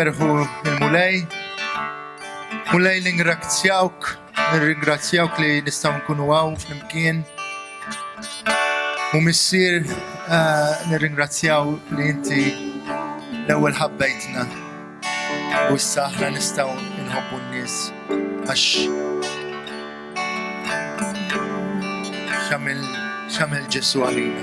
ferħu il-mulej. Mulej l-ingrazzjawk Nirringrazzjawk li nistgħu nkunu hawn flimkien. U missier eh, nirringrazzjaw li inti l-ewwel ħabbejtna u issa aħna nistgħu nħobbu n-nies għax xamil xamil Ġesu għalina.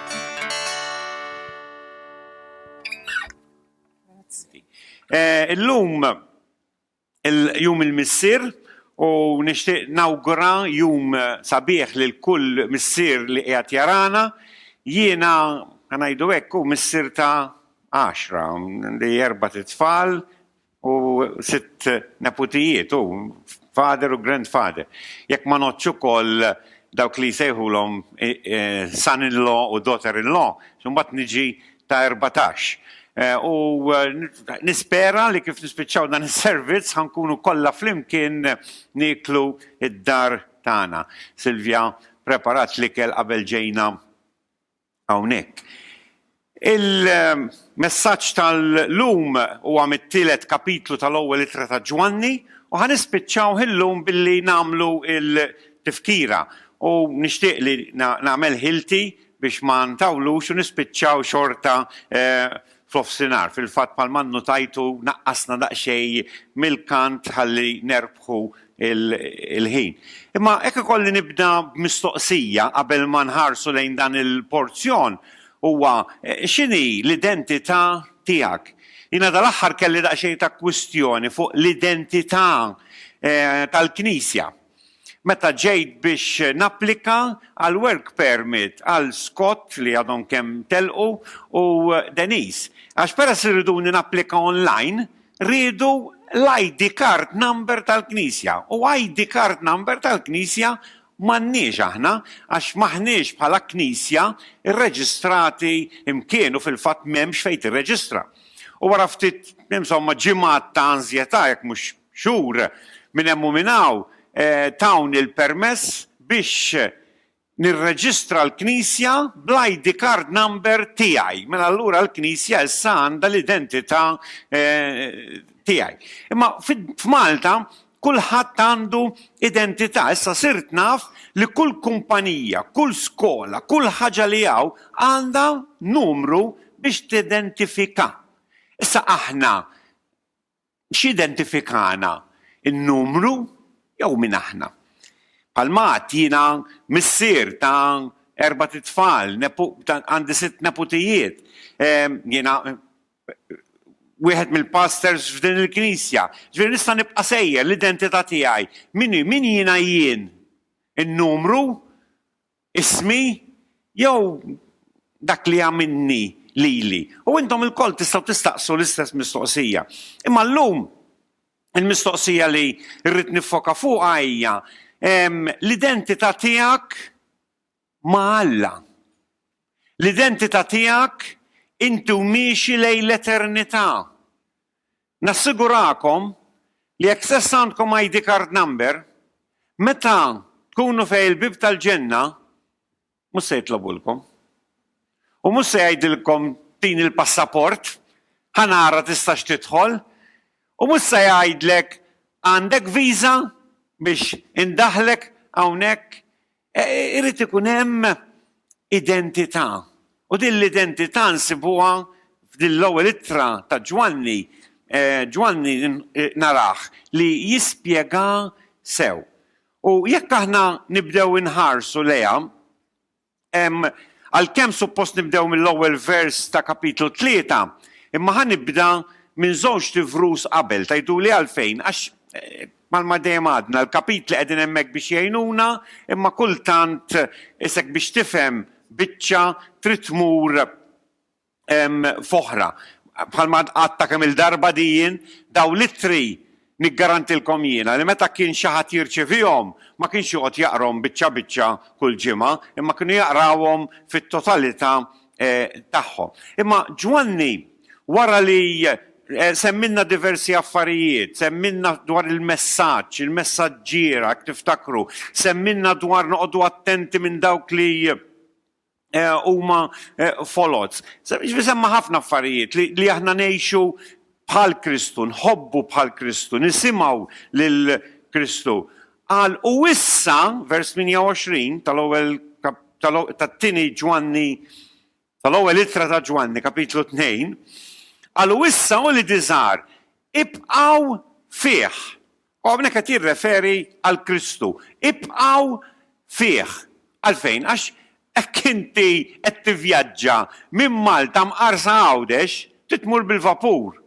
Eh, illum il-jum il-missir u nixtieq nawgura jum eh, sabiħ lil kull missir li qiegħed jarana jiena ngħidu hekk u missir ta' għaxra li erba' tfal u sitt neputijiet, u father u grandfather. Jekk ma ngħoddx ukoll dawk li jsejħulhom son-in-law u daughter-in-law, imbagħad niġi ta' erbatax. U nispera li kif nispiċċaw dan is-servizz ħa nkunu kollha flimkien nieklu d-dar tagħna. Silvia preparat l-ikel qabel ġejna hawnhekk. Il-messaġġ tal-lum huwa mit-tielet kapitlu tal-Ewwel Ittra ta' Ġwanni u ħa nispiċċawh illum billi nagħmlu l-tifkira u nixtieq li nagħmel ħilti biex ma ntawlux u nispiċċaw xorta f'nofsinhar. Fil-fatt bħalma nnutajtu naqqasna daqsxejn mill-kant ħalli nerbħu l-ħin. Imma hekk ikolli nibda b'mistoqsija qabel ma nħarsu lejn dan il-porzjon huwa x'inhi l-identità tiegħek? Jiena dal-aħħar kelli daqsxejn ta' kwistjoni fuq l-identità tal-Knisja. Meta ġejt biex napplika għal work permit għal Scott li għadhom kemm telqu u Denise, għax peress li riduni napplika online, riedu l-ID card number tal-Knisja u ID card number tal-Knisja m'għandniex aħna għax m'aħniex bħala Knisja rreġistrati mkien u fil-fatt m'hemmx fejn tirreġistra. U wara ftit, insomma, ġimgħat ta' anżjetà, jekk mhux xhur minn hemm u minn hawn tawni l-permess biex nirreġistra l-knisja bl-ID card number tiegħi. Mela allura l-knisja issa għandha l-identità tiegħi. Imma f'Malta kulħadd għandu identità. Issa sirt naf li kull kumpanija, kull skola, kull ħaġa li hawn għandha numru biex tidentifika. Issa aħna X'identifikana n-numru jew min aħna? Bħalma għedt, jiena missier ta' erbat itfal, għandi sitt neputijiet, jiena wieħed mill-pastors f'din il-Knisja. Ġifieri nista' nibqa' sejjer, l-identità tiegħi. Min jiena jien? In-numru ismi jew dak li għamilni lili. U intom ilkoll tistgħu tistaqsu l-istess mistoqsija. Imma llum il-mistoqsija li rrid niffoka fuqha hija l-identità tiegħek ma' Alla. L-identità tiegħek inti u miexi lejn l-eternità. Nassigurakom li jekk stess għandkom ID card number, meta tkunu fejn il-bieb tal-ġenna mhux se jitlobulkom. U mhux se jgħidilkom tini l-passaport, ħa nara tistax tidħol, u mhux se jgħidlek għandek visa biex indaħħlek hawnhekk E, e, irid ikun hemm identità. U din l-identità nsibuha f'din l-ewwel ittra ta' Ġwanni, eh, Ġwanni eh, naraħ li jispjega sew. U jekk aħna nibdew inħarsu leha, għalkemm suppost nibdew mill-ewwel vers ta' kapitlu tlieta, imma ħa nibda minn żewġ tivrus qabel, tajdu li għalfejn, għax eh, Bħalma dejjem għadna, l-kapitli qegħdin hemmhekk biex jgħinuna, imma kultant is hekk biex tifhem biċċa trid tmur f'oħra. Bħalma għad għadtha kemm-il darba di jien, dawn l-ittri niggarantilkom jiena li meta kien xi ħadd jirċevihom ma kienx joqgħod jaqrahom biċċa biċċa kull ġimgħa, imma kienu jaqrawhom fit-totalità tagħhom. Imma Ġwanni wara li semmilna diversi affarijiet, semmilna dwar il-messaġġ, il-messaġġiera, jekk tiftakru, semmilna dwar noqogħdu attenti minn dawk li huma foloz. Semma ħafna affarijiet li aħna ngħixu bħal Kristu, nħobbu bħal Kristu, nisimgħu lil Kristu. Qal u issa, vers 28 tal-ewwel tat-tieni Ġwanni tal-ewwel ittra ta' Ġwanni, kapitlu 2, qal u issa u li diżar ibqgħu fih U hawnhekk qed jirreferi għal Kristu. Ibqgħu fih. Għalfejn? Għax hekk inti qed tivvjaġġa minn Malta mqar sa Għawdex, trid tmur bil-vapur.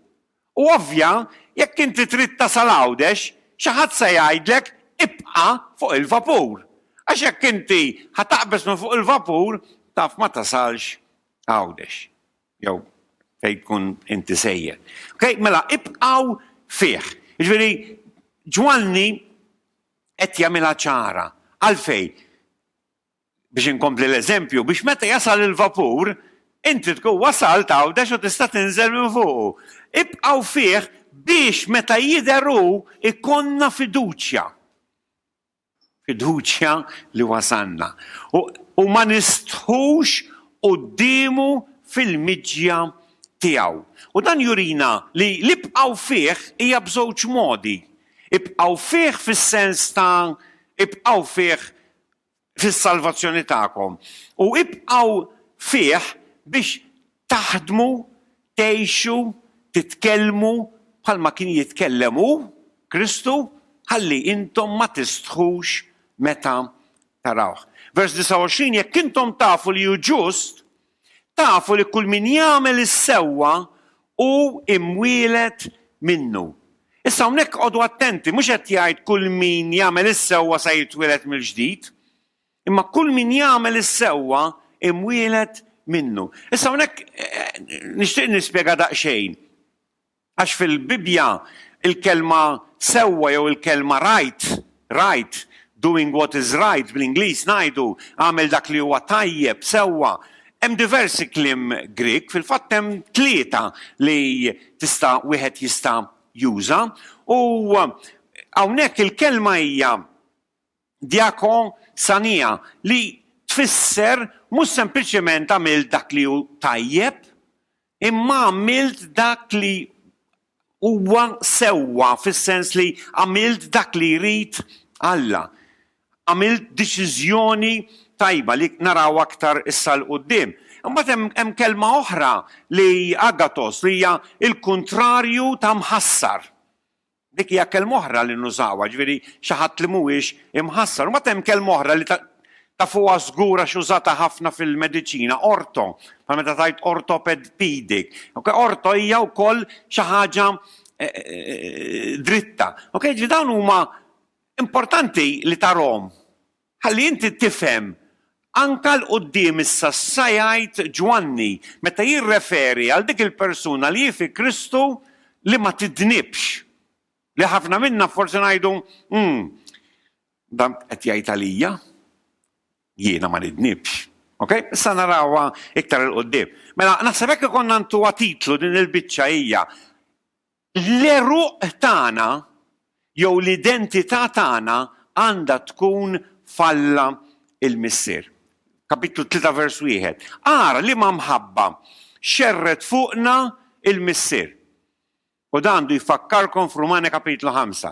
U ovvja, jekk inti trid tasal Għawdex, xi ħadd se jgħidlek ibqa' fuq il-vapur. Għax jekk inti ħa taqbeż minn fuq il-vapur, taf ma tasalx Għawdex. Jew fejn tkun inti sejjer. Okay? Mela, ibqaw fih. Ġveri, ġwanni qed jagħmilha ċara. Għalfej, biex inkompli l-eżempju, biex meta jasal il-vapur, inti tkun wasal tawdex u tista' tinżel minn fuqu. Ibqaw fih biex meta jidheru ikonna fiduċja. fiduċja li wasalna u ma nistħux quddiemu fil-miġja tiegħu. U dan jurina li l-ibqgħu fih hija b'żewġ modi, ibqgħu fih fis-sens ta' ibqgħu fih fis-salvazzjoni tagħkom u ibqgħu fih biex Taħdmu, tgħixu, titkellmu bħalma kien jitkellem hu, Kristu, ħalli intom ma tistħux meta tarawh. Vers 29, Jekk intom tafu li hu ġust, tafu li kull min jagħmel is-sewwa hu imwieled minnu. Issa hawnhekk qogħdu attenti, mhux qed jgħid kull min jagħmel is-sewwa se jitwieled mill-ġdid. Imma kull min jagħmel is-sewwa imwieled minnu. Issa hawnhekk nixtieq nispjega daqsxejn. Għax fil-Bibbja il-kelma sewwa jew il-kelma right, right, doing what is right bl-Ingliż ngħidu, agħmel dak li huwa tajjeb, sewwa, hemm diversi kliem Grieg, fil-fatt hemm tlieta li tista' wieħed jista' juża, u hawnhekk il-kelma hija Diaco sania, li tfisser mhux sempliċement għamilt dak li hu tajjeb, imma għamilt dak li huwa sewwa fis-sens li għamilt dak li jrid Alla. Għamilt deċiżjoni tajba li naraw aktar issa 'l quddiem. Imbagħad hemm hemm kelma oħra li agathos li hija l-kuntrarju ta' mħassar. Dik hija kelma oħra li nużawha, jiġifieri xi ħadd li mhuwiex imħassar. Imbagħad hemm kelma oħra li tafuha żgur għax użata ħafna fil-mediċina, ortho, bħal meta tgħid orthopedic. Okay? Ortho hija wkoll xi ħaġa eh, eh, dritta. Okay? Ġi dawn huma importanti li tarhom. Ħalli inti tifhem, anke 'l quddiem issa sa jgħid Ġwanni meta jirreferi għal dik il-persuna li hi fi Kristu li ma tidnibx. Li ħafna minna forsi ngħidu, Umm, dan qed jgħid għalija? Jiena ma nidnibx. Ok? Issa narawha iktar 'il quddiem. Mela, naħseb hekk ikollna ntuha titlu din il-biċċa hija L-għeruq tagħna jew l-identità tagħna għandha tkun f'Alla l-Missier. Kapitlu 3 vers 1. Ara liema mħabba xerred fuqna l-Missier. U dan għandu jfakkarkom f'Rumani kapitlu 5.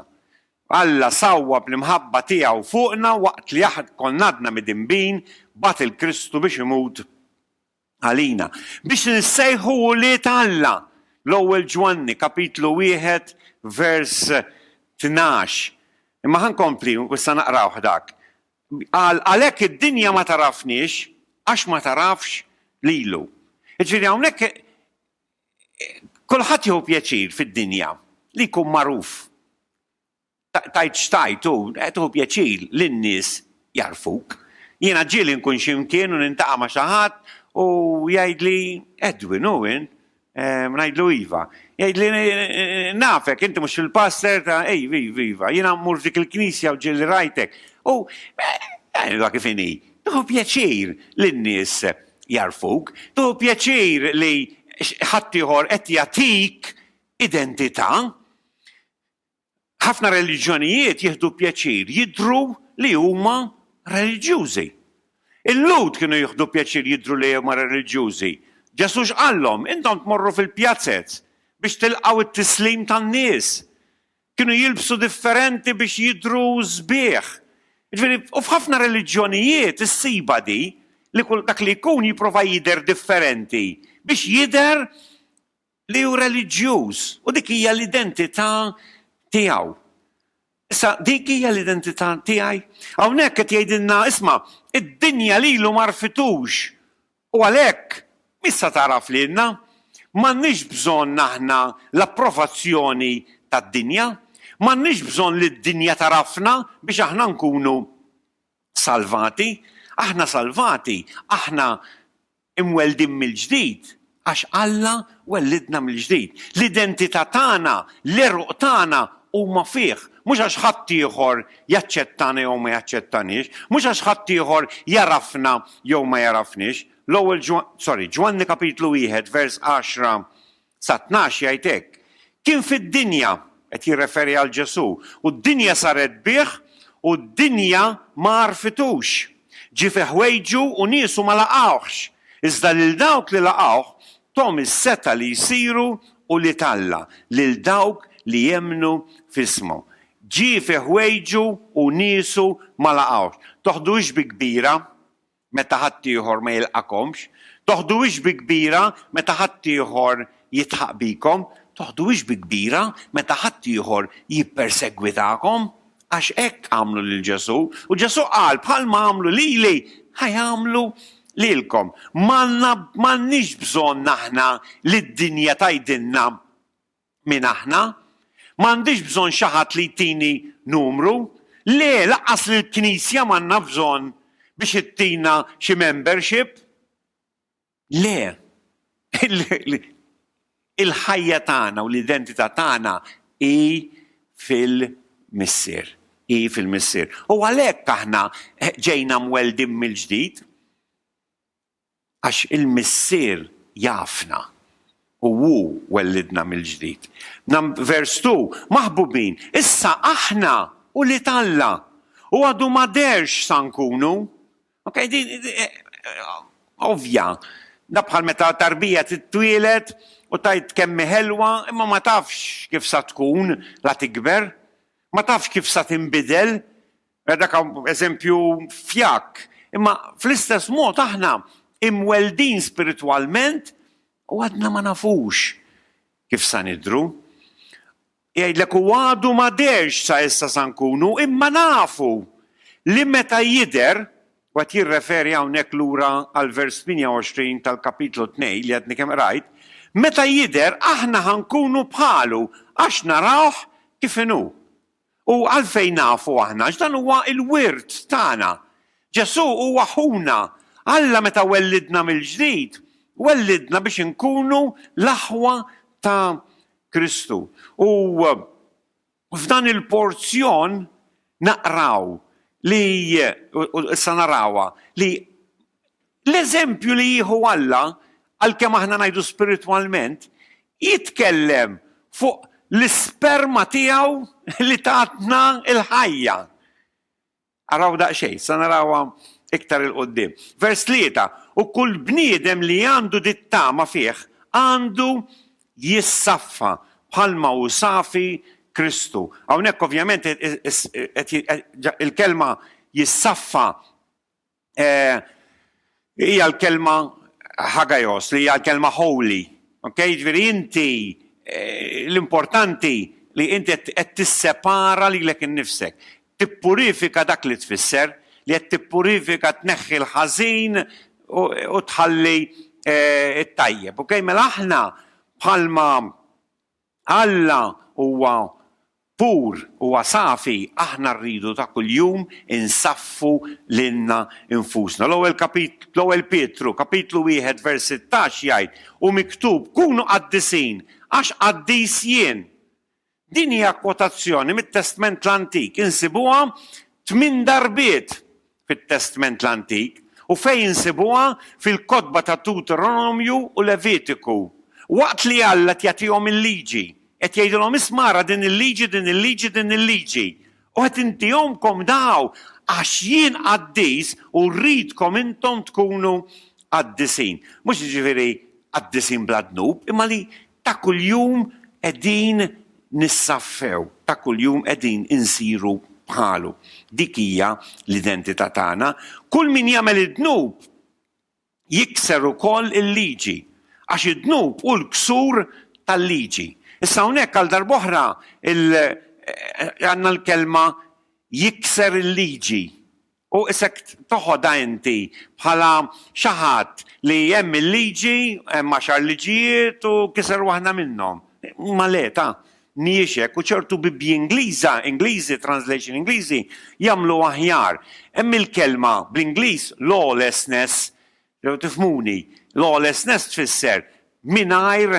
Alla sawwab l-imħabba tiegħu fuqna waqt li aħ konna għadna midinbin, bagħat 'il Kristu biex imut għalina, biex insejħu ulied Alla, l-Ewwel Ġwanni, kapitlu wieħed, vers tnax. Imma ħa nkompli u issa naqrawh dak. Qal, Għalhekk id-dinja ma tagħrafniex għax ma tagħrafx lilu. Jiġifieri hawnhekk kulħadd jieħu pjaċir fid-dinja li jkun magħruf. Tajt x'tajt u qed tieħu pjaċir li n-nies jagħrfuk. Jiena ġieli nkun xi mkien u niltaqa' ma' xi ħadd u jgħidli, Edwin, hu int? Ngħidlu iva. Jgħidli, Nafek, inti mhux il-pastor ta' Iva, iva, iva. Jiena mmur f'dik il-knisja u ġieli rajtek. U għidilha kif inhi, tieħu pjaċir li n-nies jagħrfuk. Tieħu pjaċir li ħaddieħor qed jagħtik identità. Ħafna reliġjonijiet jieħdu pjaċir jidhru li huma reliġjużi. Il-Lhud kienu jieħdu pjaċir jidhru li huma reliġjużi. Ġesù x'qallhom? Intom tmorru fil-pjazez biex tilqgħu t-tislim tan-nies. Kienu jilbsu differenti biex jidhru sbieħ. Jiġifieri, u f'ħafna reliġjonijiet issibha di li kull dak li jkun jipprova jidher differenti biex jidher li hu reliġjuż u dik hija l-identità tiegħu. Issa dik hija l-identità tiegħi. Hawnhekk qed jgħidilna isma' id-dinja lilu ma rfitux u għalhekk missa tagħraf lilna. M'għandniex bżonn aħna l-approvazzjoni tad-dinja, m'għandniex bżonn li d-dinja tagħrafna biex aħna nkunu salvati. Aħna salvati, aħna Imweldin mill-ġdid għax Alla wellidna mill-ġdid. L-identità tagħna, l-għeruq tagħna huma fih, mhux għax ħaddieħor jaċċettana jew ma jaċċettaniex, mhux għax ħaddieħor jagħrafna jew ma jagħrafniex. L-ewwel Ġwann, sorry, Ġwanni kapitlu wieħed vers għaxra Sa tnax jgħid hekk, Kien fid-dinja, qed jirreferi għal Ġesù, u d-dinja saret bih u d-dinja ma għarfitux. Ġie fi ħwejġu u niesu ma laqgħuhx, iżda lil dawk li laqgħuh thom is-setgħa li jsiru ulied Alla, lil dawk li jemmnu f'ismu. Ġie fi ħwejġu u niesu ma laqgħuhx. Toħdux bi kbira meta ħaddieħor ma jilqagħkomx? Toħduhiex bi kbira meta ħaddieħor jidħaq bikom? Toħduhiex bi kbira meta ħaddieħor jippersegwitakom? Għax hekk għamlu lil Ġesù, u Ġesù qal, Bħalma għamlu lili, ħa jagħmlu lilkom. M'għandna, m'għandniex bżonn aħna li d-dinja tgħidilna Min aħna? Ma għandix bżonn xi ħadd li jtini numru. Le, lanqas lill-Knisja m'għandna bżonn biex ittina xi membership. Le. Il-ħajja tagħna u l-identità tagħna hi fil-Missier. Hi fil-Missier. U għalhekk aħna ġejna mweldin mill-ġdid. Għax il-Missier jafna, u Hu wellidna mill-ġdid. Vers 2, Maħbubin, issa aħna ulied Alla, u għadu ma deherx x'sa nkunu. Okej, din ovvja. Dak bħal meta tarbija titwieled u tgħid kemm hi ħelwa, imma ma tafx kif sa tkun la tikber. Ma tafx kif sa tinbidel. Dak eżempju fjakk, imma fl-istess mod aħna imweldin spiritwalment u għadna ma nafux kif sa nidhru. Jgħidlek u għadu ma dehrx sa issa sa nkunu, imma nafu li meta jidher, u qed jirreferi hawnhekk lura għall-vers 28 tal-Kapitlu Tnejn li għadni kemm qrajt, meta jidher aħna ħa nkunu bħalu għax narawh kif inhu. U għalfejn nafu aħna? Għax dan huwa l-wirt tagħna. Ġesù huwa ħuna. Alla meta wellidna mill-ġdid, wellidna biex inkunu l-aħwa ta' Kristu. U f'dan il-porzjon naqraw li, u issa narawha, li L-eżempju li jieħu Alla, għalkemm aħna ngħidu spiritwalment, jitkellem fuq l-isperma tiegħu li tatna l-ħajja. Araw daqsxejn, se narawha iktar 'il quddiem. Vers tlieta, U kull bniedem li għandu dit-tama fih għandu jissaffa bħalma hu safi Kristu. Hawnhekk ovvjament il-kelma jissaffa hija l-kelma hagaios li hija l-kelma holy. Okay? Jiġifieri inti eh, l-importanti li inti qed tissepara lilek innifsek. Tippurifika dak li tfisser li qed tippurifika tneħħi l-ħażin u tħalli eh, it-tajjeb. Okay? Mela aħna bħalma Alla huwa pur, huwa safi, aħna rridu ta' kuljum insaffu lilna nfusna. L-ewwel kapit, l-ewwel Pietru, kapitlu wieħed vers sittax jgħid, Hu miktub, Kunu qaddisin, għax qaddis jien. Din hija kwotazzjoni mit-Testment l-Antik, insibuha tmien darbiet. fit-Testment l-Antik u fejn insibuha fil-kotba ta' Dewteronomju u Levitiku. Waqt li Alla qed jagħtihom il-Liġi, qed jgħidilhom, 'Isma' ara din il-liġi, din il-liġi, din il-liġi. U qed intihomkom daw għax jien qaddis u rridkom intom tkunu qaddisin. Mhux jiġifieri qaddisin bla dnub, imma li Ta' kuljum qegħdin nissaffew, ta' kuljum qegħdin insiru bħalu. Dik hija l-identità tagħna. Kull min jagħmel id-dnub jikser ukoll il-liġi, għax id-dnub hu l-ksur tal-liġi. Issa hawnhekk għal darb'oħra għandna l-kelma jikser il-liġi. U issa toħodha inti bħala xi ħadd li hemm il-liġi, hemm għaxar liġijiet u kiser waħda minnhom. Imma le, ta, mhijiex hekk u ċertu Bibbji Ingliża, Ingliżi, translation Ingliżi, jagħmlu aħjar. Hemm il-kelma bl-Ingliż lawlessness, jew tifhmuni, lawlessness tfisser mingħajr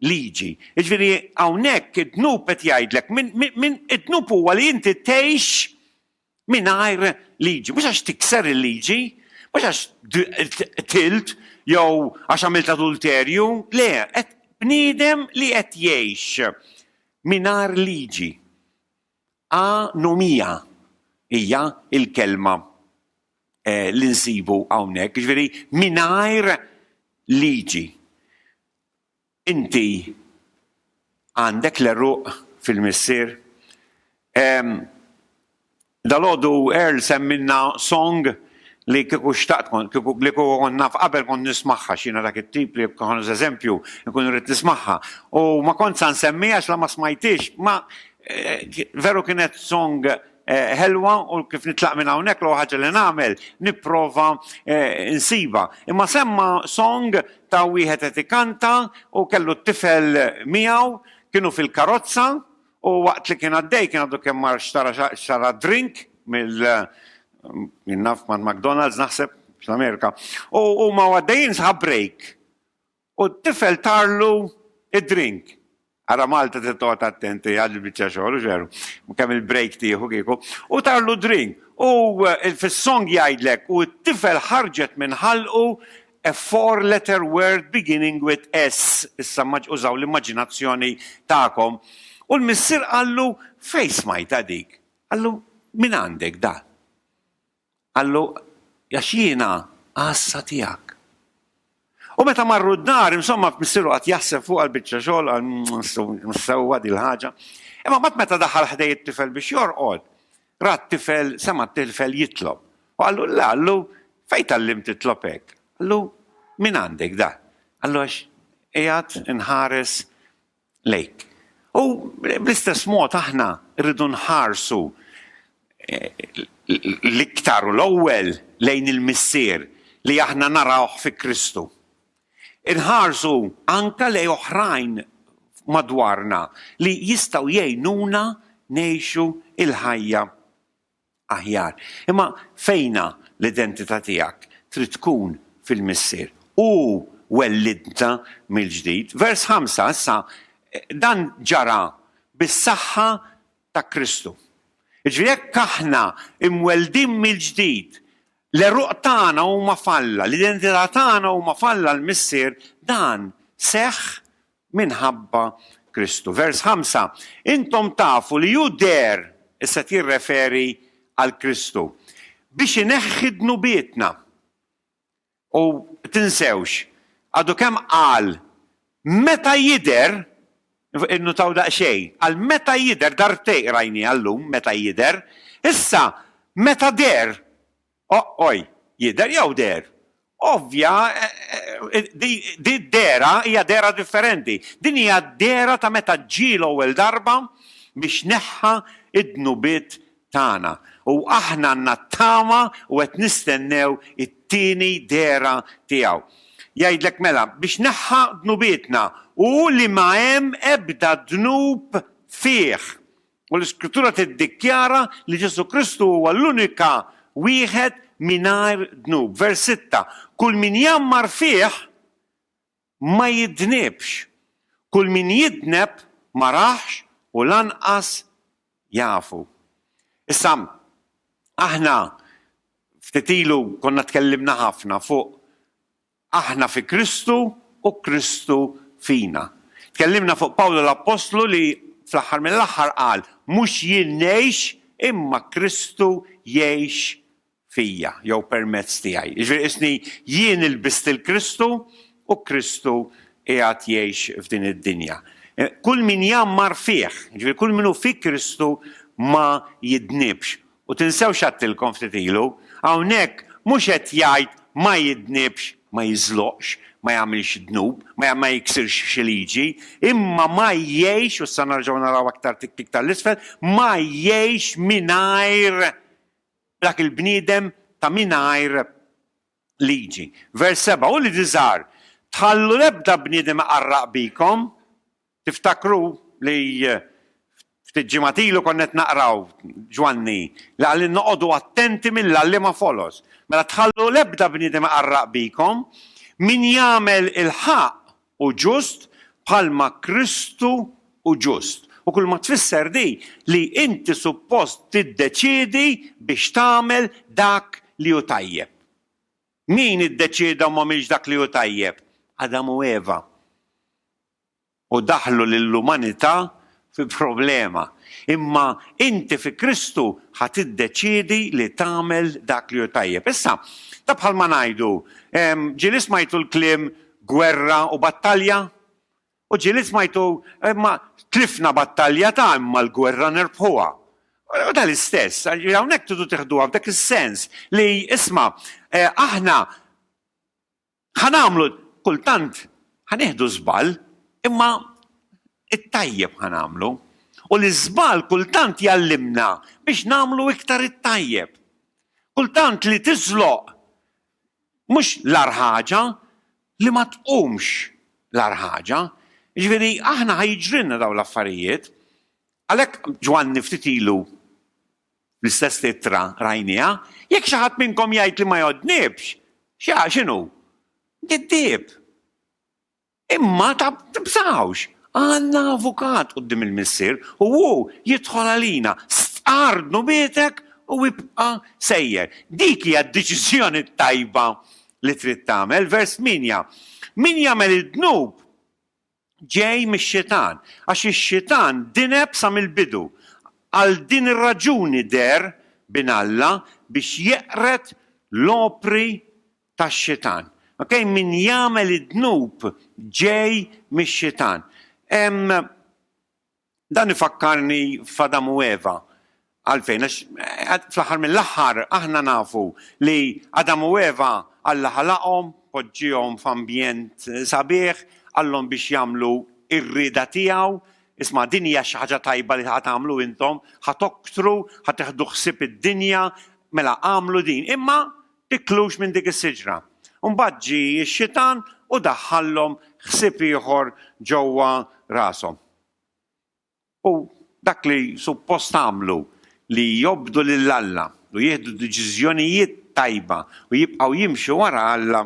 liġi. Jiġifieri hawnhekk id-dnub qed jgħidlek, min, min, id-dnub huwa li inti tgħix Mingħajr liġi, mhux għax tikser il-liġi, mhux għax qtilt jew għax għamilt adulterju, le, qed bniedem li qed jgħix mingħajr liġi. A nomija hija l-kelma eh, li nsibu hawnhekk, jiġifieri mingħajr liġi. Inti għandek l-għeruq fil-missier? Ehm, dalgħodu Earl semmilna song li kieku xtaqt kont, kieku li kieku kont naf qabel kont nismagħha għax jiena dak it-tip li kont eżempju nkun irrid nismagħha. U ma kontx sa nsemmiha għax la ma smajthiex, ma eh, veru kienet song ħelwa u kif nitlaq minn hawnhekk l ħaġa li nagħmel nipprova eh, nsiba. Imma semma song ta' wieħed qed ikanta u kellu t-tifel miegħu kienu fil-karozza u waqt li kien għaddej kien għaddu kemm mar xtara drink mill jinnaf ma' McDonald's naħseb fl-Amerika. U ma għaddejjin sħab break. U t-tifel tarlu id-drink. Ara Malta trid toqgħod attent hija għal biċċa xogħol hux veru. Kemm il-break tieħu kieku. U tarlu drink. U fis-song jgħidlek u t-tifel ħarġet minn ħalqu a four letter word beginning with S. Issa użaw l-immaġinazzjoni tagħkom. U l-missier qallu fejn smajtha dik? Qallu mingħandek dan. Qallu, Għax jiena għassa tiegħek. U meta marru d-dar, insomma, missieru qagħad jaħseb fuqha l-biċċa xogħol, qal, Mhmm, sewwa din l-ħaġa. Imma mbagħad meta daħal ħdejn it-tifel biex jorqod, ra t-tifel, sema' t-tifel jitlob. U qallu, Le, qallu, fejn tgħallimt titlob hekk? Qallu, Mingħandek dan. Qallu, Għax qiegħed inħares lejk. U bl-istess mod aħna rridu nħarsu l-iktar u l-ewwel lejn il-Missier li aħna narawh fi Kristu. Inħarsu anke lejn oħrajn madwarna li jistgħu jgħinuna ngħixu l-ħajja aħjar. Imma fejna l-identità tiegħek? Trid tkun fil-Missier. Hu wellidna mill-ġdid. Vers ħamsa, issa, dan ġara bis-saħħa ta' Kristu. Jiġifieri jekk aħna imweldin mill-ġdid, l-għeruq tagħna huma f'Alla, l-identità tagħna huma f'Alla l-Missier, dan seħħ minħabba Kristu. Vers 5, Intom tafu li hu deher, issa qed jirreferi għal Kristu, biex ineħħi dnubietna. U tinsewx, għadu kemm qal, meta jidher, innutaw daqsxejn, qal meta jidher, darbtej qrajniha llum, meta jidher, issa meta deher, Ooi, jidher jew deher? Ovvja, di d-dehra hija dehra differenti. Din hija d-dehra ta' meta ġie l-ewwel darba biex neħħa d-dnubiet tagħna. U aħna għandna t-tama u qed nistennew it-tieni dehra tiegħu. Jgħidlek mela, biex neħħa dnubietna, u li ma hemm ebda dnub fih. U l-Iskrittura tiddikjara li Ġesù Kristu huwa l-unika wieħed mingħajr dnub. Vers 6, Kull min jgħammar fih ma jidnibx, kull min jidneb ma rahx u lanqas jafu. Issa, aħna ftit ilu konna tkellimna ħafna fuq Aħna fi Kristu u Kristu fina. Tkellimna fuq Pawlu l-appostlu li fl-aħħar mill-aħħar qal, Mhux jien ngħix, imma Kristu jgħix fija, jew permezz tiegħi. Jiġifieri qisni jien ilbist lil Kristu u Kristu qiegħed jgħix f'din id-dinja. Kull min jgħammar fih, jiġifieri kull min hu fi Kristu ma jidnibx. U tinsewx għedtilkom ftit ilu, hawnhekk mhux qed jgħid ma jidnibx, ma jiżloqx, ma jagħmilx dnub, ma jiksirx xi liġi, imma ma jgħix, u issa nerġgħu naraw aktar tik tik ta' l-isfel, ma jgħix mingħajr dak il-bniedem ta' mingħajr liġi. Vers seba', Uliedi żgħar, tħallu l-ebda bniedem iqarraq bikom, Tiftakru li ftit ġimgħat ilu konna qed naqraw, Ġwanni, li qal li noqogħdu attenti mill-għalliema foloz. Mela tħallu l-ebda bniedem iqarraq bikom, min jagħmel il-ħaqq hu ġust bħalma Kristu hu ġust. U kulma tfisser di li inti suppost tiddeċiedi biex tagħmel dak li hu tajjeb. Min iddeċieda u m'għamilx dak li hu tajjeb? Adam u Eva. u daħħlu lill-umanità fi problema. Imma inti fi Kristu ħa tiddeċiedi li tagħmel dak li hu tajjeb. Issa, ta' bħalma ngħidu, ġieli smajtu l-kliem gwerra u battalja? U ġieli smajtu, imma tlifna battalja ta' imma l-gwerra nerbħuha. U ta' l-istess, hawnhekk tridu tiħduha f'dak is-sens li isma' aħna Ħa nagħmlu, kultant ħa nieħdu żball, imma t-tajjeb ħa nagħmlu. U l-iżball kultant jgħallimna biex nagħmlu iktar it-tajjeb. Kultant li tiżloq mhux l-agħar ħaġa, li ma tqumx l-agħar ħaġa. Jiġifieri aħna ħa jiġrilna dawn l-affarijiet. Għalhekk Ġwanni ftit ilu L-istess ittra rajnieha, Jekk xi ħadd minnkom jgħid li ma jgħoddnibx, x'ha x'inhu? Giddieb. Imma tibżgħux, għandna avukat quddiem il-Missier u hu jidħol għalina. Stqarr dnubietek u ibqa' sejjer. Dik hija d-deċiżjoni t-tajba li trid tagħmel. Vers 8, Min jagħmel id-dnub ġej mix-Xitan, għax ix-Xitan dineb sa mill-bidu. Għal din ir-raġuni deher Bin Alla biex jeqred l-opri tax-Xitan. Ok, min jagħmel id-dnub ġej mix-Xitan. Hemm Dan ifakkarni f'Adam u Eva. Għalfejn? Għax fl-aħħar mill-aħħar aħna nafu li Adam u Eva Alla ħalaqhom, poġġiehom f'ambjent sabiħ, qallhom biex jagħmlu r-rieda tiegħu, isma' din hija xi ħaġa tajba li ħa tagħmlu intom, ħa toktru, ħa teħdu ħsieb id-dinja, mela agħmlu din, imma tiklux minn dik is-siġra. U mbagħad ġie x-xitan u daħħallhom ħsieb ieħor ġewwa rashom. U dak li suppost għamlu li jobdu lil Alla u jieħdu deċiżjonijiet tajba u jibqgħu jimxu wara Alla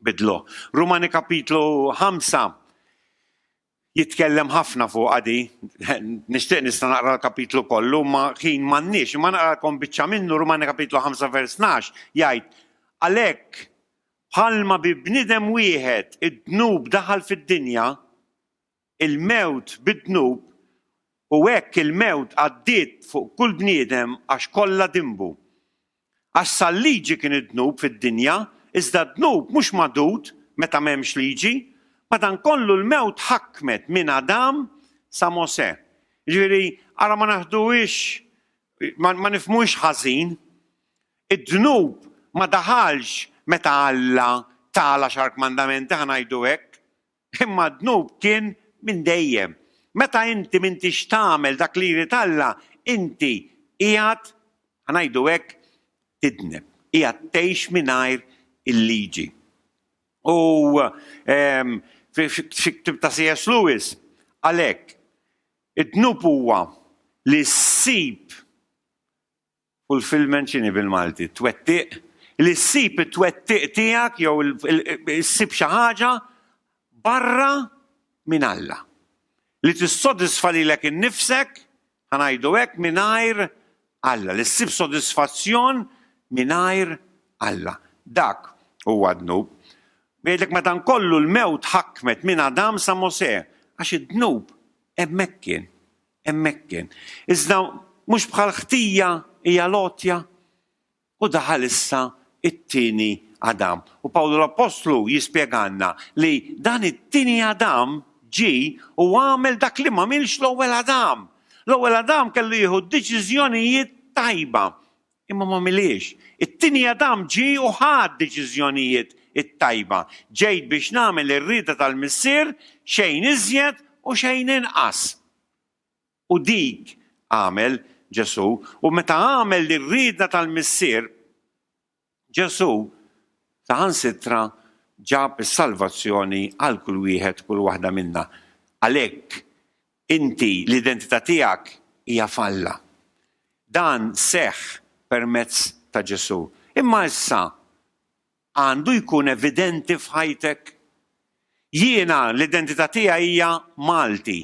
bidluh. Rumani kapitlu ħamsa jitkellem ħafna fuqha di. Nixtieq nista' naqra l-kapitlu kollu, ma ħin m'għandniex, imma naqralkom biċċa minnu Rumani kapitlu ħamsa vers tnax jgħid għalhekk bħalma bi bniedem wieħed id-dnub daħal fid-dinja, il-mewt bid-dnub, u hekk il-mewt għaddiet fuq kull bniedem għax kollha dinbu. Għax sal-Liġi kien id-dnub fid-dinja, iżda d-dnub mhux magħdud meta m'hemmx Liġi, madankollu l-mewt ħakmet minn Adam sa Mosè. Jiġifieri, ara ma naħduhiex, ma nifhmuhiex ħażin, id-dnub ma daħalx meta Alla ta l-Għaxar Kmandamenti, ħa ngħidu hekk, Imma d-dnub kien minn dejjem. Meta inti m'intix tagħmel dak li jrid Alla, inti qiegħed, ħa ngħidu hekk, tidneb, qiegħed tgħix mingħajr il-liġi. U f'xi ktieb ta' C.S. Lewis qal hekk, Id-dnub huwa li ssib Fulfillment x'inhi bil-Malti? Twettiq? Li ssib it-twettiq tiegħek jew issib xi ħaġa barra minn Alla. Li tissodisfa lilek innifsek, ħa ngħidu hekk, mingħajr Alla. Li ssib sodisfazzjon mingħajr Alla. Dak huwa d-dnub. Jgħidlek madankollu l-mewt ħakmet minn Adam sa Mosè, għax id-dnub hemmhekk kien. Hemmhekk kien. Iżda mhux bħal ħtija hija l-għotja? U daħal issa it-tieni Adam. U Pawlu l-Appostlu jispjegalna li dan it-tieni Adam ġie u għamel dak li m'għamilx l-ewwel Adam. L-ewwel Adam kellu jieħu deċiżjonijiet tajba. Imma m'għamilhiex. It-tieni Adam ġie u ħa d-deċiżjonijiet it-tajba. Ġejt biex nagħmel ir-rieda tal-Missier, xejn iżjed u xejn inqas. U dik għamel Ġesù. U meta għamel ir-rieda tal-Missier, Ġesù saħansitra ġab is-salvazzjoni għal kull wieħed, kull waħda minna. Għalhekk, Inti, l-identità tiegħek hija f'Alla. Dan seħħ permezz ta' Ġesù. Imma issa għandu jkun evidenti f'ħajtek? Jiena, l-identità tiegħi hija Malti.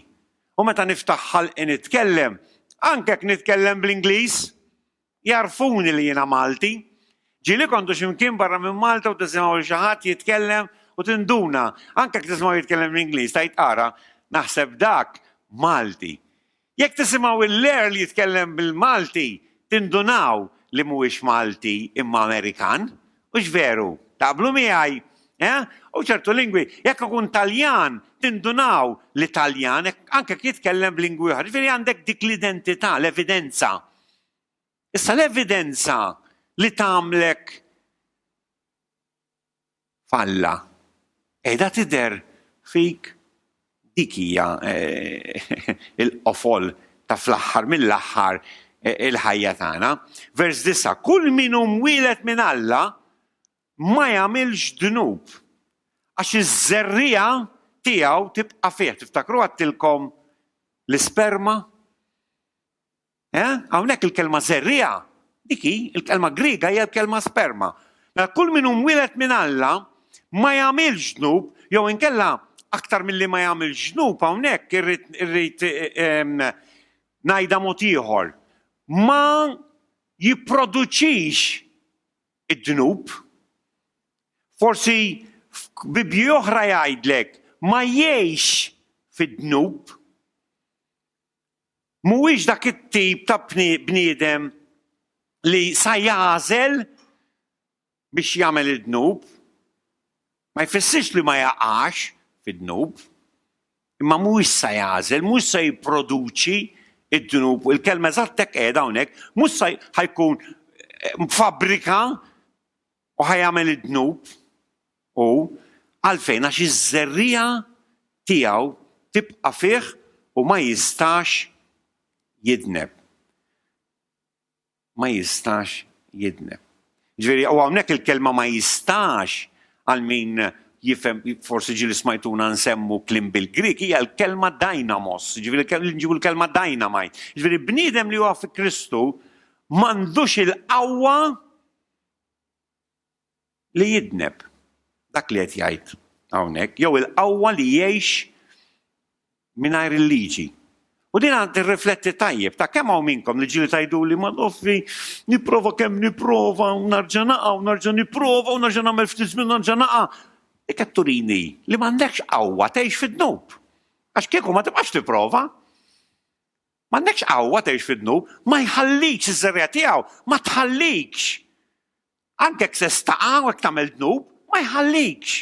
U meta niftaħ ħalqi nitkellem, anke jekk nitkellem bl-Ingliż. Jagħrfuni li jiena Malti. Ġieli kontu xi mkien barra minn Malta u tisimgħu lil xi ħadd jitkellem u tinduna, anke jekk tisimgħu jitkellem l-Ingliż, tgħid ara, naħseb dak Malti. Jekk tisimgħu l-Earl jitkellem bil-Malti, tindunaw li mhuwiex Malti imma Amerikan. Hux veru? Taqblu miegħi? Eh? U ċertu lingwi, jekk ikun Taljan, tindunaw li Taljan, anke jekk jitkellem b'lingwi oħra. Ġifieri għandek dik l-identità, l-evidenza. Issa l-evidenza li tagħmlek falla qiegħda tidher fik dik hija eh, il-qofol ta' fl-aħħar mill-aħħar eh, il-ħajja tagħna. Vers disa' kull min hu mwieled minn Alla ma jagħmilx dnub għax iż-żerrija tiegħu tibqa' fih. Tiftakru għattilkom l-isperma Eh? Hawnhekk il-kelma żerriegħa, dik hi, il-kelma Griega hija l-kelma sperma. Mela kull min hu mwieled minn Alla ma jagħmilx dnub jew inkella aktar milli ma jagħmilx dnub hawnhekk irrid irrid ehm, ngħidha mod ieħor. Ma jipproduċix id-dnub. Forsi f'Bibji oħra jgħidlek ma jgħix fid-dnub. Mhuwiex dak it-tip ta' bniedem li sa jagħżel biex jagħmel id-dnub. Ma jfissirx li ma jaqax fid-dnub, imma mhuwiex sa jagħżel, mhux se jipproduċi d-dnub, u l-kelma eżatt hekk qiegħda hawnhekk, mhux sa ħa jkun fabbrika U ħa jagħmel id-dnub, hu, għalfejn? Għax iż-żerriegħa tiegħu tibqa' fih u ma jistax jidneb. Ma jistax jidneb. Ġifieri, u hawnhekk il-kelma ma jistax għal min jifhem forsi ġieli smajtuna nsemmu kliem bil-Grik hija l-kelma dynamos, ġifieri nġibu l-kelma dynamite. Ġifieri bniedem li huwa fi Kristu m'għandux il-qawwa li jidneb dak li qed jgħid hawnhekk jew il-qawwa li jgħix mingħajr il-liġi. U din għand tirrifletti tajjeb ta' kemm hawn minnkom li ġieli tgħiduli ma noffi nipprova kemm nipprova u narġa' naqa' u narġa' nipprova u narġa' nagħmel ftit żmien narġa' naqa'. Dik qed turini li m'għandekx qawwa tgħix fid-dnub. Għax kieku ma tibqax tipprova. M'għandekx qawwa tgħix fid-dnub, ma jħallikx iż-żerriegħa tiegħu, ma tħallikx. Anke jekk se staqa' u jekk tagħmel dnub, ma jħallikx.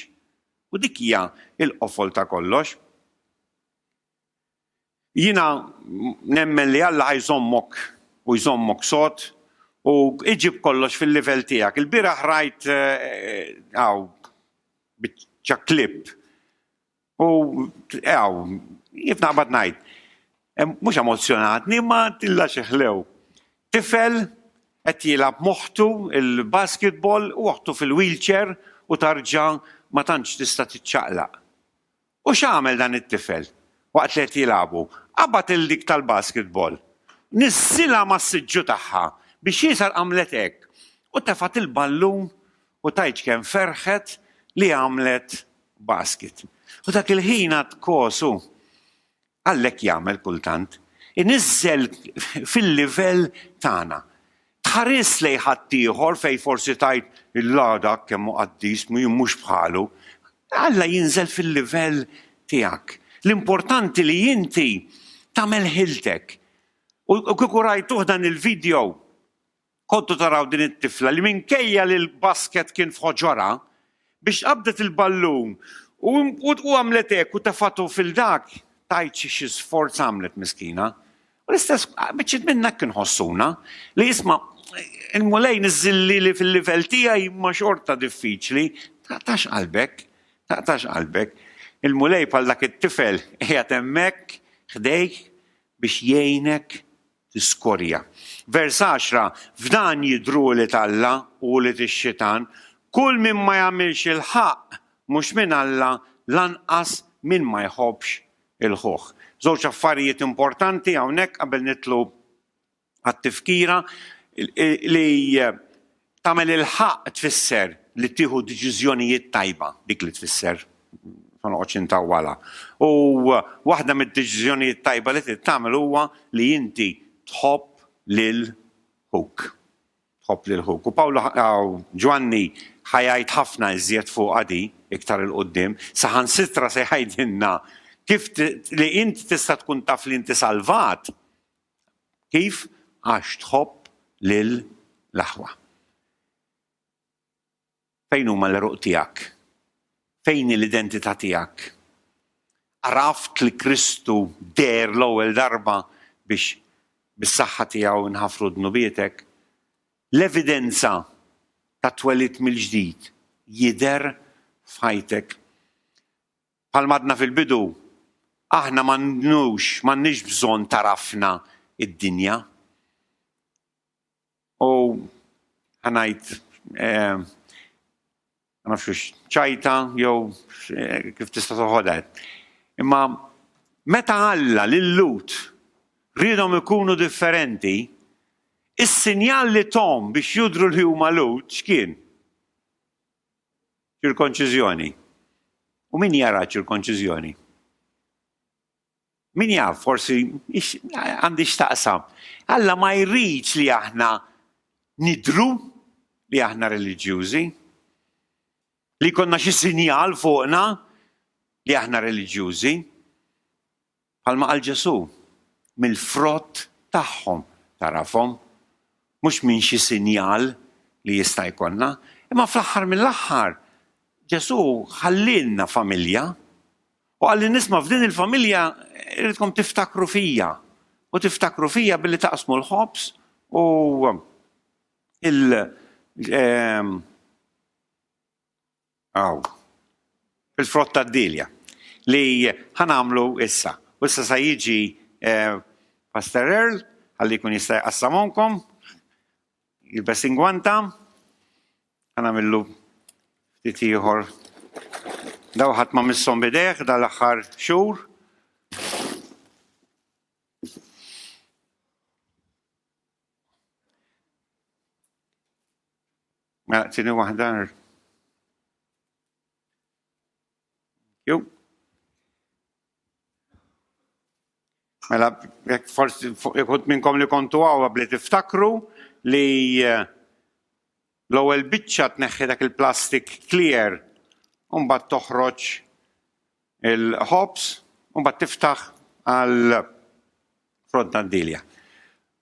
U dik hija l-qofol ta' kollox. Jiena nemmen li Alla ħa jżommok u jżommok sod u iġib kollox fil-livell tiegħek. Il-bieraħ rajt hawn biċċa clip U għaw, jif naqbad ngħid, mhux emozzjonatni ma tilla xi ħlew. Tifel qed jilgħab moħħtu il-basketball u oħtu fil-wheelchair u tarġa' ma tantx tista' tiċċaqlaq. U x'għamel dan it-tifel waqt li qed jilagħbu? Qabad 'il dik tal-basketball, niżżilha mas-siġġu tagħha biex jisha għamlet hekk u tefgħet il-ballun u tgħid kemm ferħet li għamlet basket. U dak il-ħin għad kosu. Allek jagħmel kultant. Iniżżel fil-livell tagħna. Tħaris lejn ħaddieħor fejn forsi tgħid illa dak kemm hu qaddis mhux bħalu. Alla jinżel fil-livell tiegħek. L-importanti li inti tagħmel ħiltek. U kieku rajtuh dan il-video, Kontu taraw din it-tifla li minkejja li l-basket kien f'ħoġorha, biex qabdet il-ballun u għamlet hekk u tefgħtu fil-dak, tgħidx xi sforz għamlet miskina. U l-istess biċċiet minnha hekk inħossuna, li isma' il-Mulej niżżilli li fil-livell tiegħi imma xorta diffiċli, taqtax qalbek, taqtax qalbek. Il-Mulej bħal dak it-tifel qiegħed hemmhekk ħdejk biex jgħinek tiskorja. Vers 10, F'dan jidhru ulied Alla u ulied ix-xitan, Kull min ma jagħmilx il-ħaqq mhux minn Alla, lanqas min ma jħobbx il-ħuh. Żewġ affarijiet importanti hawnhekk qabel nidħlu għat-tifkira, li Tagħmel il-ħaqq tfisser li tieħu deċiżjonijiet tajba, dik li tfisser, ma noqgħodx intawwalha. U waħda mid-deċiżjonijiet tajba li trid tagħmel huwa li inti tħobb lil ħuk. Tħobb lil ħuk. U Pawlu Ġwanni ħa jgħid ħafna iżjed fuqha di iktar 'il quddiem, saħansitra se jgħidilna kif li inti tista' tkun taf li inti salvat Kif? Għax tħobb lil l-aħwa. Fejn huma l-għeruq tiegħek? Fejn hi l-identità tiegħek? Għaraft li Kristu deher l-ewwel darba biex bis-saħħa tiegħu nħafru dnubietek? L-evidenza tat-twelid mill-ġdid jidher f'ħajtek? Bħalma għadna fil-bidu, aħna m'għandnux, m'għandniex bżonn tagħrafna d-dinja. U ħa ngħid, ma nafx hux ċajta jew kif tista' toħodha. Imma meta Alla lil Lut riedhom ikunu differenti, is-sinjal li thom biex jidhru li huma Lut x'kien? Ċirkonċiżjoni. U min jara ċirkonċiżjoni? Min jaf, forsi għandi x'taqsam. Alla ma jridx li aħna nidru li aħna reliġjużi, li konna xi sinjal fuqna li aħna reliġjużi. Bħalma qal Ġesù, Mill-frott tagħhom tagħrafhom, mhux minn xi sinjal li jista' jkollna. Imma fl-aħħar mill-aħħar, Ġesù ħallielna familja u qal lin-nies ma f'din il-familja rridkom tiftakru fija u tiftakru fija billi taqsmu l-ħobż u l Aw. Il-frott tad-dielja li ħa nagħmlu issa. U issa sa jiġi Pastor Earl ħalli jkun jista' jqassamhomkom. Jilbes ingwanta. Ħa nagħmillu ftit ieħor. Daw ħadd ma misshom bidejh dal-aħħar xhur. Mela tieni waħda. Jew. Mela jekk forsi ikut minnkom li kontu għaw bli tiftakru li eh, l-ewwel biċċa tneħħi dak il-plastik clear u mbagħad toħroġ Il-ħobż u mbagħad tiftaħ għal frott tad-dielja.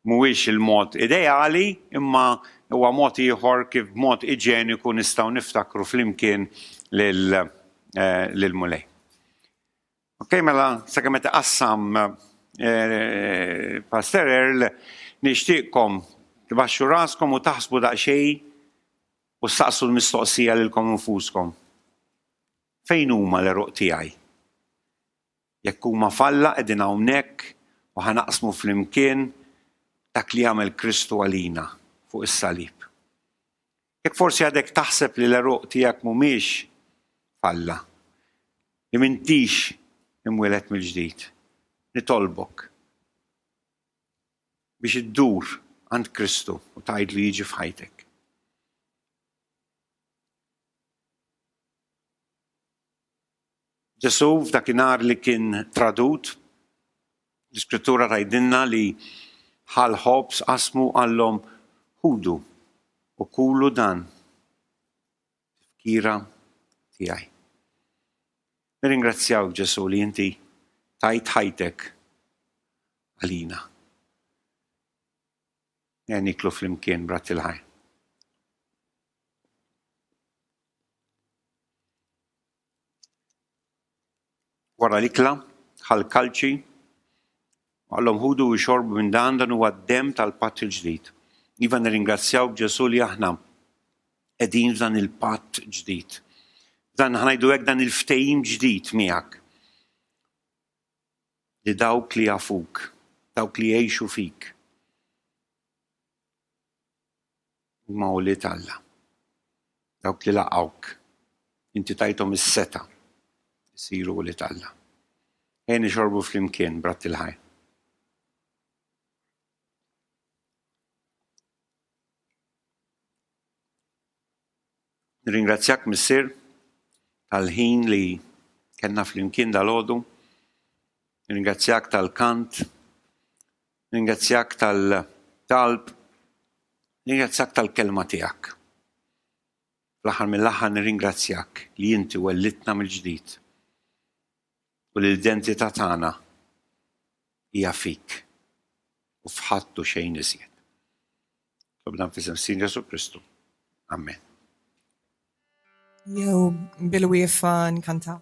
Mhuwiex il-mod ideali, imma huwa mod ieħor kif b'mod iġeniku nistgħu niftakru flimkien lill-Mulej. Okej, mela sakemm qed iqassam Pastor Earl, nixtieqkom tbaxxu raskom u taħsbu daqsxejn u ssaqsu l-mistoqsija lilkom infuskom. Fejn huma l-għeruq tiegħi? Jekk huma f'Alla qegħdin hawnhekk u ħa naqsmu flimkien dak li għamel Kristu għalina fuq is-salib. Jekk forsi għadek taħseb li l-għeruq tiegħek mhumiex f'Alla, li m'intix imwieled mill-ġdid, nitolbok biex iddur għand Kristu u tgħidlu jiġi f'ħajtek. Ġesù f'dakinhar li kien tradut, l-Iskrittura tgħidilna li ħa l-ħobż, qasmu u qalhom, Ħudu u kulu dan f'tifkira tiegħi. Nirringrazzjawk Ġesù li inti tajt ħajtek għalina. Ejja niklu flimkien b'Ratti l-Ħajr. Wara l-ikla, ħal kalċi, għallhom ħudu u xorbu minn dan dan huwa d-dem tal-patt il-ġdid. Iva nirringrazzjaw b'Ġesu li aħna qegħdin f'dan il-patt ġdid. Dan ħanajdu hekk dan il-ftehim ġdid miegħek. li dawk li jafuk, dawk li jgħixu fik, huma ulied Alla. Dawk li laqgħuk, inti tajthom is-setgħa jsiru ulied Alla. Ejja nixorbu flimkien b'ratt il-ħajr. Nirringrazzjak Missier tal-ħin li kellna flimkien dal-għodu. Nirringrazzjak tal-kant. Nirringrazzjak tal-talb. Nirringrazzjak tal-kelma tiegħek. Fl-aħħar mill-aħħar nirringrazzjak li inti wellitna mill-ġdid. U l-identità tagħna hija fik u f'ħadd u xejn iżjed. Tlobna f'isem Sidna Ġesù Kristu. Amen. Jew bil-wiefa nkantaw.